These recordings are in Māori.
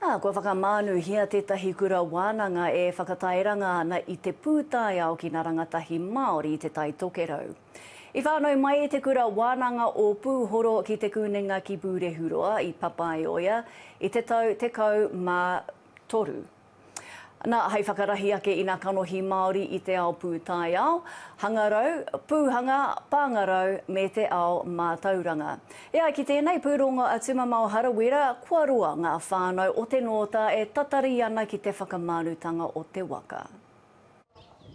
Ā, kua whakamānuhia tētahi kura wānanga e whakatairanga ana i te pūtaiao ki ngā rangatahi Māori i Te Tai Tokerau. I whānau mai te kura wānanga o Pūhoro ki Te Kunenga ki Pūrehuroa i Papaioea i te tau 13. Na, hei whakarahi ake i ngā kanohi Māori i te ao pūtaiao, hangarau, pūhanga, pāngarau me te ao mātauranga. E ai ki tēnei pūrongo a Tumamao Harawira, kua roa ngā whānau o Te Nōta e tatari ana ki te whakamanutanga o te waka.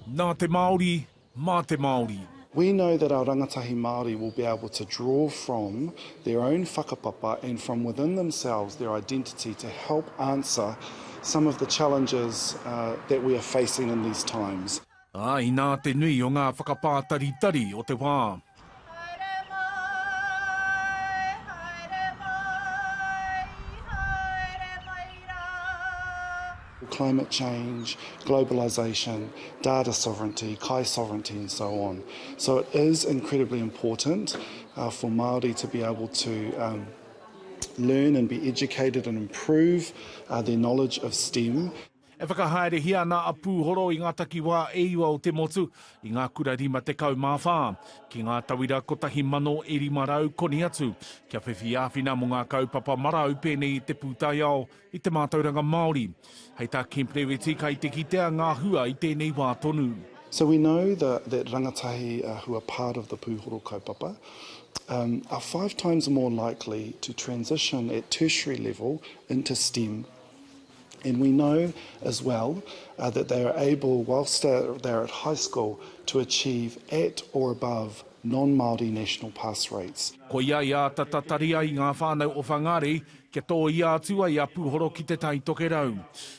Nā te Māori, mā te Māori. We know that our rangatahi Māori will be able to draw from their own whakapapa and from within themselves, their identity, to help answer some of the challenges that we are facing in these times. Ā, inā te nui o ngā whakapātaritari o te wā. Haere mai, haere mai, haere mai rā. climate change, globalisation, data sovereignty, kai sovereignty and so on. So it is incredibly important for Māori to be able to learn and be educated and improve their knowledge of stem. E whakahaerehia ana a Pūhoro i ngā takiwā e iwa o te motu, i ngā kura 54, ki ngā tauira 1,000 e 500 koni atu, kia whiwhi āwhina mō ngā kaupapa marau pēnei i te pūtaiao, i te mātauranga Māori. Hei tā Kemp Rewiti kai te kitea ngā hua i tēnei wā tonu. So we know the that rangatahi who are part of the Pūhoro kaupapa are five times more likely to transition at tertiary level into stem. And we know as well uh, that they are able, whilst they're at high school, to achieve at or above non-Māori national pass rates. Koia i āta tatari ai ngā whānau o Whangārei kia tōia atu ai a Pūhoro ki Te Tai Tokerau.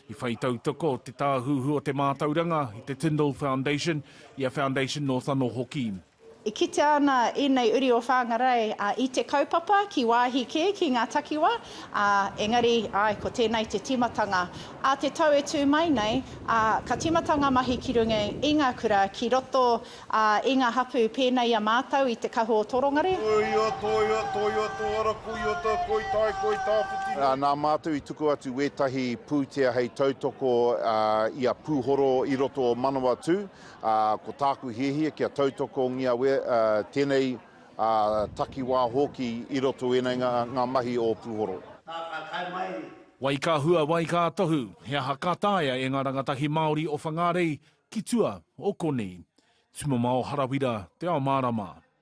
I whai tautoko Te Tāhuhu o te Mātauranga i te Tyndall Foundation, i a Foundation North anō hoki. E kitea ana ēnei uri o Whāngarei i te kaupapa ki wāhi kē, ki ngā takiwā, ā, engari, āe, ko tēnei te tīmatanga ā te tau e tū mai nei, ā, ka tīmata ngā mahi ki runga i ngā kura, ki roto, ā, i ngā hapū pēnei i a mātou i te kahu o Torongare. Toia, toia, toia, toara, koia ta, koi tai, koi tāwhiti nei. Nā mātou i tuku atu wētahi pūtea hei tautoko i a Pūhoro i roto o Manawatū. ā, ko tāku hiahia kia tautokongia we, ā, tēnei, ā, takiwā hōki i roto ēnei ngā, ngā mahi o Puhoro. Ka, ka tae mai. Wai ka hua, wai ka tohu, he aha ka taea e nga rangatahi Maori o Whangarei ki tua o konei? Tumamao Harawira, Te Ao Marama.